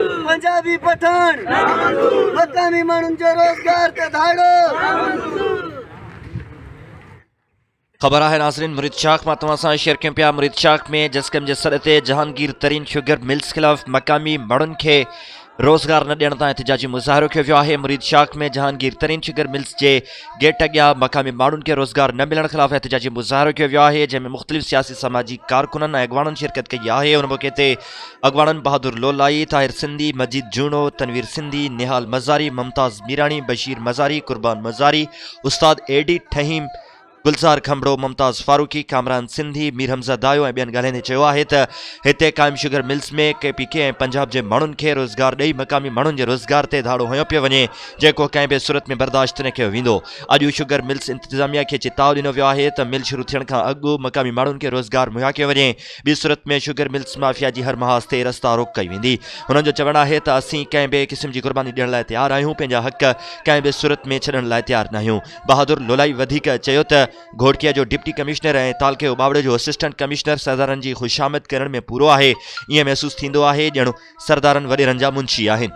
پنجابي پٺاڻ مقامي ماڻهن جو روزگار تي ڌاڙو خبر آهي ناظرين مريد شاخ مان توهان سان شيئر ڪيون پيا مريد شاخ ۾ جسڪم جي سڏ تي جهانگير ترين شوگر ملز خلاف مقامي مڙن کي روزگار نه ڏيڻ تان احتجاجي مظاهرو ڪيو ويو آهي مريد شاخ ۾ جهانگير ترين شوگر ملز جي گيٽ اڳيان مقامي ماڻهن کي روزگار نه ملڻ خلاف احتجاجي مظاهرو ڪيو ويو آهي جنهن ۾ مختلف سياسي سماجي ڪارڪنن ۽ اڳواڻن شرڪت ڪئي آهي ان موقعي تي اڳواڻن بهادر لولائي، طاهر سنڌي، مجيد جوڻو، تنوير سنڌي، نهال مزاري، ممتاز ميراڻي، بشير مزاري، قربان مزاري، استاد اي ڊي ٺهيم، گلزار کمبڙو، ممتاز فاروقي، ڪامران سنڌي، مير حمزه دايو ۽ ٻين ڳالهائيندي چيو آهي ته هتي قائم sugar mills ۾ K P K ۽ Punjab جي ماڻهن کي روزگار ڏئي مقامي ماڻهن جي روزگار تي ڌاڙو هنيو پيو وڃي جيڪو ڪنهن به صورت ۾ برداشت نه ڪيو ويندو اڄ شگر ملز انتظاميه کي چتاء ڏنو ويو آهي ته مل شروع ٿيڻ کان اڳ مقامي ماڻهن کي روزگار مهيا ڪيو وڃي ٻي صورت ۾ شگر ملز مافيا جي هر محاذ تي رستا روڪ ڪئي ويندي، هنن جو چوڻ آهي ته اسين ڪنهن به قسم جي قرباني ڏيڻ لاء تيار آهيون، پنهنجا حق ڪنهن به صورت ۾ ڇڏڻ لاء تيار ناهيون. بهادر لولائي وڌيڪ چيو ته گهوٽڪي جو ڊپٽي ڪمشنر ۽ تعلقي اوٻاوڙي جو اسسٽنٽ ڪمشنر سردارن جي خوشامد ڪرڻ ۾ پورو آهي، ائين محسوس ٿيندو آهي ڄڻ سردارن وڏيرن جا منشي آهن.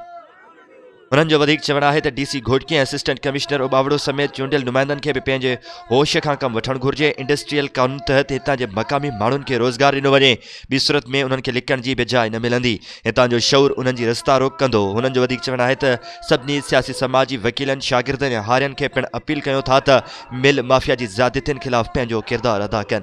هنن جو وڌيڪ چوڻ آهي ته D C Ghotki ۽ assistant commissioner Ubauro سميت چونڊيل نمائندن کي به پنهنجي هوش کان ڪم وٺڻ گهرجي، انڊسٽريل قانون تحت هتان جي مقامي ماڻهن کي روزگار ڏنو وڃي، ٻي صورت ۾ انهن کي لڪڻ جي به جاء نه ملندي، هتان جو شعور انهن جي رستا روڪ ڪندو، هنن جو وڌيڪ چوڻ آهي ته سڀني سياسي سماجي وڪيلن، شاگردن ۽ هارين کي پڻ اپيل ڪيون ٿا ته مل مافيا جي زيادتين خلاف پنهنجو ڪردار ادا ڪن.